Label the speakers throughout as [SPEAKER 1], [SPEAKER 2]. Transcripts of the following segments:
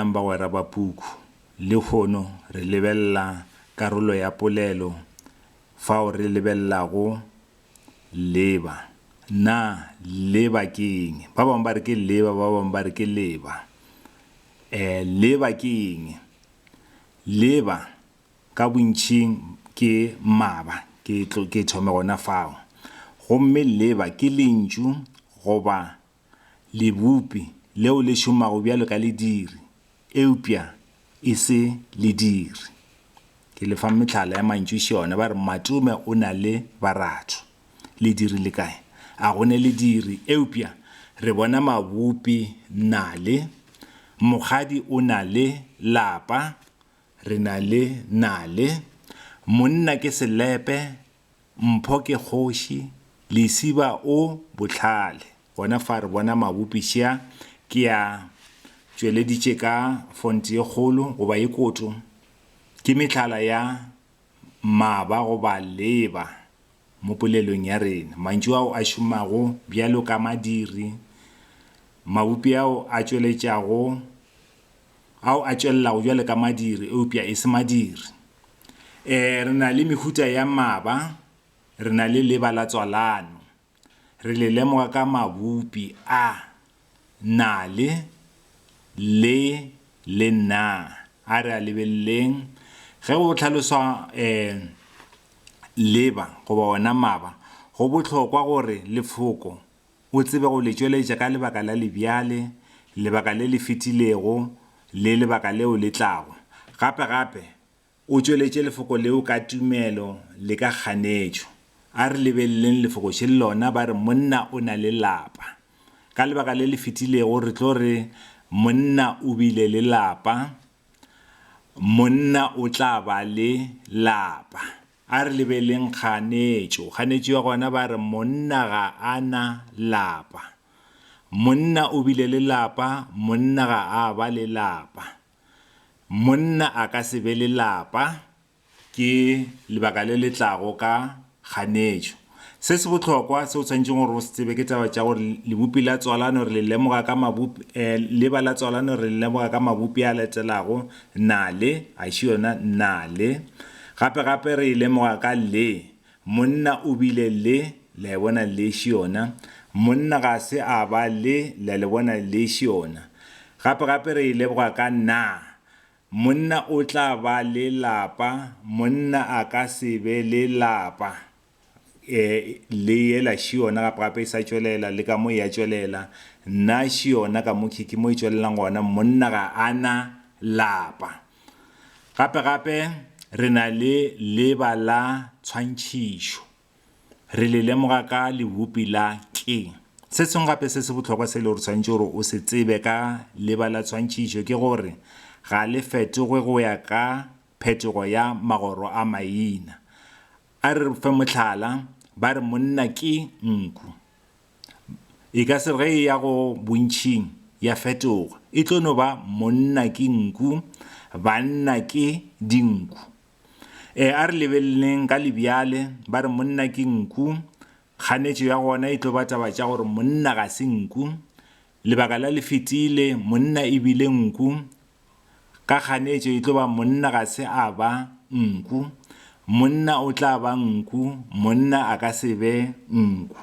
[SPEAKER 1] Dumelang bagwera ba puku. Lehono re lebelela karolo ya polelo fao re lebelelago leba. Na leba ke eng? Ba bangwe ba re ke leba, ba bangwe ba re ke leba. Eh, leba ke eng? Leba ka bontšhing ke maba, ke, ke thome gona fao. Gomme leba ke lentšu goba Lebupi leo le šomago bjalo ka lediri, eupša e se lediri. Ke le fa mehlala ya mantšuši ona. Ba re, Matume o na le baratho. Lediri le kae? A go ne lediri? Eupša re bona mabupi, nale. Mokgadi o na le lapa, re na le nale. Monna ke selepe, Mpho ke kgoši, Lesiba o bohlale. Gona fa re bona mabopi šea, ke a tšweleditše ka font ye kgolo goba ye koto, ke mehlala ya maba goba leba mo polelong ya rena. Mantšu ao a šomago bjalo ka madiri, mabopi ao a tšweletšago. ao a tšwelelago bjalo ka madiri eupša e se madiri. E, re na le mehuta ya maba, re na le leba la tswalano. Re le lemoga ka mabupi a, na le, le, le na. A re a lebeleleng. Ge go hlaloswa e, leba goba ona maba, go bohlokwa gore lefoko, o tsebe go le tšweletša ka lebaka la lebjale, lebaka le le fetilego, le lebaka leo le tlago. Gape, gape, o tšweletše Lefoko leo ka tumelo le ka kganetšo. A re lebeleleng Lefokoše le lona, ba re, Monna o na le lapa. Ka lebaka le le fetilego, re tlo re, Monna o bile le lapa. Monna o tla ba le lapa. A re lebeleng kganetšo. Kganetšo ya gona ba re monna ga a na lapa. Monna o bile le lapa, monna ga a ba le lapa. Monna a ka se be le lapa ke lebaka le le tlago ka kganetšo. Se se bohlokwa se o tshwanetšeng gore o se tsebe ke taba tša gore lebopi la tswalano re le lemoga ka mabopi, eh, leba la tswalano re le lemoga ka mabopi a latelago, na le, a še yona, na le. Gape gape re e lemoga ka le, monna o bile le, le a bona, le še yona. Monna ga se a ba le, le a le bona, le še yona. Gape gape re e leboga ka na, Monna o tla ba le lapa, monna a ka se be le lapa. E, le yela šiona gape gape e sa tšwelela, le ka mo ya tšwelela. Nna šiona ka mo khiki mo e tšwelelang gona, monna ga a na lapa. Gape gape re na le leba la tshwantšhišo. Re le lemoga ka lebopi la ke. Se sengwe gape se se bohlokwa se e lego gore swanetše gore o se tsebe ka leba la tshwantšhišo ke gore ga le fetogwe go ya ka phetogo ya magoro a maina. A re fe mohlala, ba re monna ke nku. E ka se re ge e ya go bontšhing ya fetoga, e tlo no ba monna ke nku, banna ke dinku. Ee, a re lebeleleng ka lebjale, ba re monna ke nku, kganetšo ya gona e tlo ba taba tša gore monna ga se nku. Lebaka la le fetile, monna e bile nku, ka kganetšo e tlo ba monna ga se a ba nku. Monna o tla ba nku, monna a ka se be nku.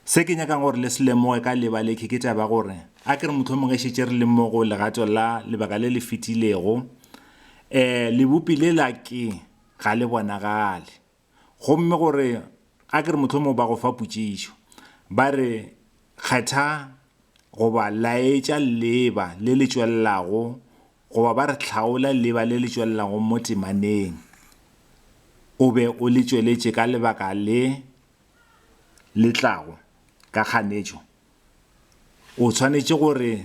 [SPEAKER 1] Se ke nyakang gore le se lemoge ka lebaleke ke taba ya gore a ke re mohlomong e šetše re le mmogo legato la lebaka le le fetilego. Um lebopi le la ke ga le bonagale. Gomme gore a ke re mohlomong ba go fa potšišo ba re kgetha goba laetša leeba le le tšwelelago goba ba re hlaola leeba le le tšwelelago mo temaneng o be o le tšweletše ka lebaka le le tlago ka kganetšo, o tshwanetše gore,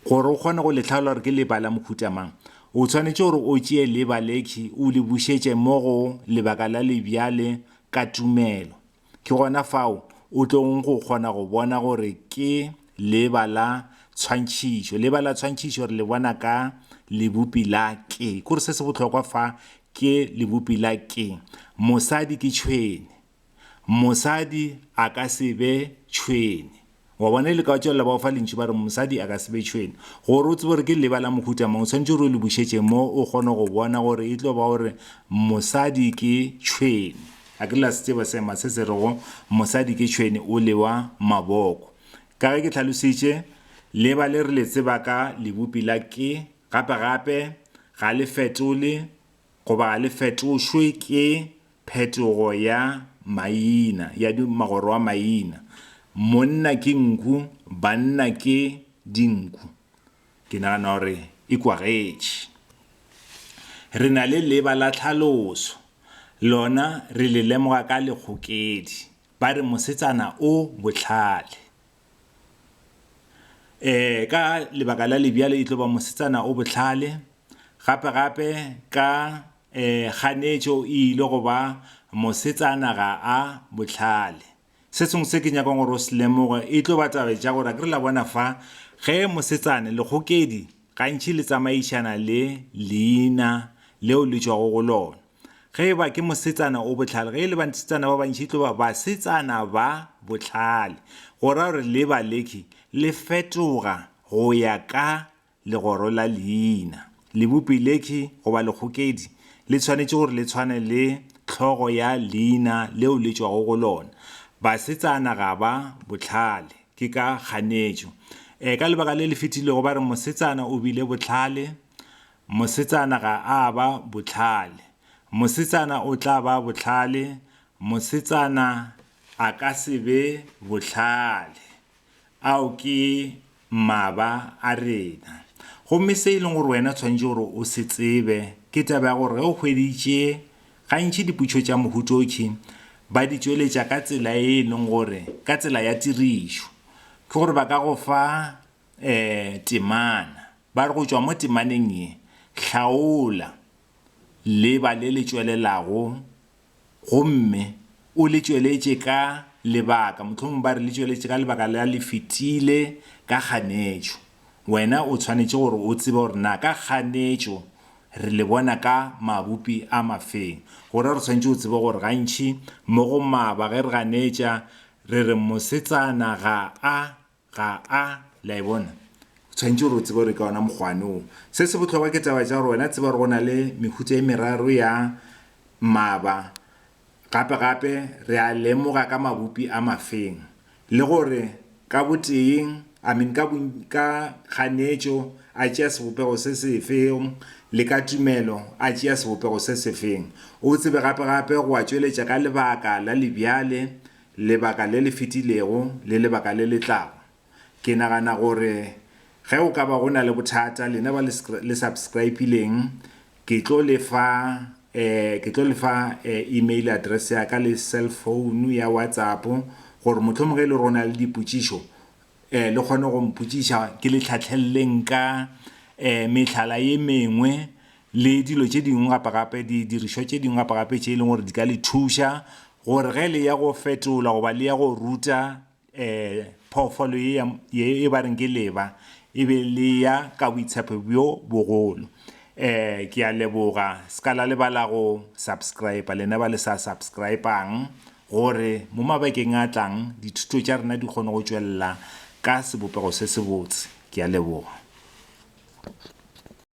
[SPEAKER 1] gore o kgone go le hlaola gore ke leba la mohuta mang, o tshwanetše gore o tšee leba lekhwi o le bušetše mo go lebaka la lebjale ka tumelo. Ke gona fao o tlogo go kgona go bona gore ke leba la tshwantšhišo. Leba la tshwantšhišo re le bona ka lebopi la ke. Ke gore se se bohlokwa fa ke lebopi la ke. Mosadi ke tšhwene. Mosadi a ka se be tšhwene. Wa bona e le ka wa tšwelela ba o fa lentšu ba re mosadi a ka se be tšhwene. Gore o tsebe gore ke leba la mohuta mang o tshwanetse gore o le bušetše mo o kgone go bona gore e tlo ba gore mosadi ke tšhwene. A ke la se tseba seema se se rego mosadi ke tšhwene o lewa maboko. Ka ge ke tlhalositše, leba le re le tseba ka lebopi la ke. Gape-gape, Ga le fetole goba ga le fetošwe ke phetogo ya maina, ya magoro a maina. Monna ke nku, banna ke dinku. Ke nagana gore e kwagetše. Re na le leba la tlhaloso, lona re le lemoga ka lekgokedi, ba re mosetsana o bohlale. Ee, ka lebaka la lebjalo e tlo ba mosetsana o bohlale. Gape-gape ka um kganetšo e ile go ba mosetsana ga a bohlale. Se sengwe se ke nyakang gore o se lemoge e tlo ba taba tša gore akere la bona fa ge mosetsana lekgokedi gantši le tsamaišana le leina leo le tšwago go lona. Ge e ba ke mosetsana o bohlale, ge e le basetsana ba bantši e tlo ba basetsana ba bohlale, go ra gore le ba leki le fetoga go ya ka legoro la leina. Lebopi leki goba lekgokedi le tshwanetše gore le tshwane le hlogo ya leina leo le tšwago go lona. Basetsana ga ba bohlale ke ka kganetšo. E, ka lebaka le le fetilego ba re mosetsana o bile bohlale, Mosetsana ga a ba bohlale. Mosetsana o tla ba bohlale. Mosetsana a ka se be bohlale. Ao ke maba a rena. Gomme se e leng gore wena o swanetše gore o se tsebe ke taba ya gore ge o hweditše, gantši diputšo tša mohuta o tšhi ba di tšweletša ka tsela e e leng gore, ka tsela ya tirišo, ke gore ba ka go fa um temana. ba re go tšwa mo temaneng ye, hlaola leba le le tšwelelago gomme o le tšweletše ka lebaka, mohlomongwe ba re le tšweletše ka lebaka la le fetile ka kganetšo. Wena o tshwanetše gore o tsebe gore na ka kganetšo re le bona ka mabupi a mafeng. Gona re tshwanetše go tseba gore gantši mo go maba ge re ganetša re re, Mosetsana ga a. ga a, le a e bona. O tshwanetše gore o tsebe gore ka ona mokgwane wo. Se se bohlokwa ke taba tša gore wena tseba gore go na le mehutsa e meraro ya maba, gape gape re a lemoga ka mabupi a mafeng, le gore ka boteeng, I mean, ka, ka kganetšo a tšea sebopego se sefeng, le ka tumelo a tšea sebopego se sefeng. O tsebe gape gape go a tšweletša ka lebaka la lebjale lebaka le le fetilego le lebaka le le tlago. Ke nagana gore ge go ka ba go na le bothata, lena ba le le subscribe-ileng, ke tlo le fa eh ke tlo le fa eh email address ya ka le cell phone ya WhatsApp gore mohlomongwe e le gore o na le dipotšišo eh le kgone go mpotšiša ke le tlhahleleleng ka eh mehlala ye mengwe le dilo tše dingwe gape gape didirišwa tše dingwe gape gape tše e leng gore di ka le thuša gore ge le ya go fetola goba le ya go ruta um phoofolo ye ya ye e ba reng ke leba e be le ya ka boitshepo bjo bogolo um ke a leboga se ka la lebala go subscribe lena ba le sa subscribang gore mo mabakeng a tlang dithuto tša rena di kgone go tšwelela ka sebopego se sebotse ke a leboga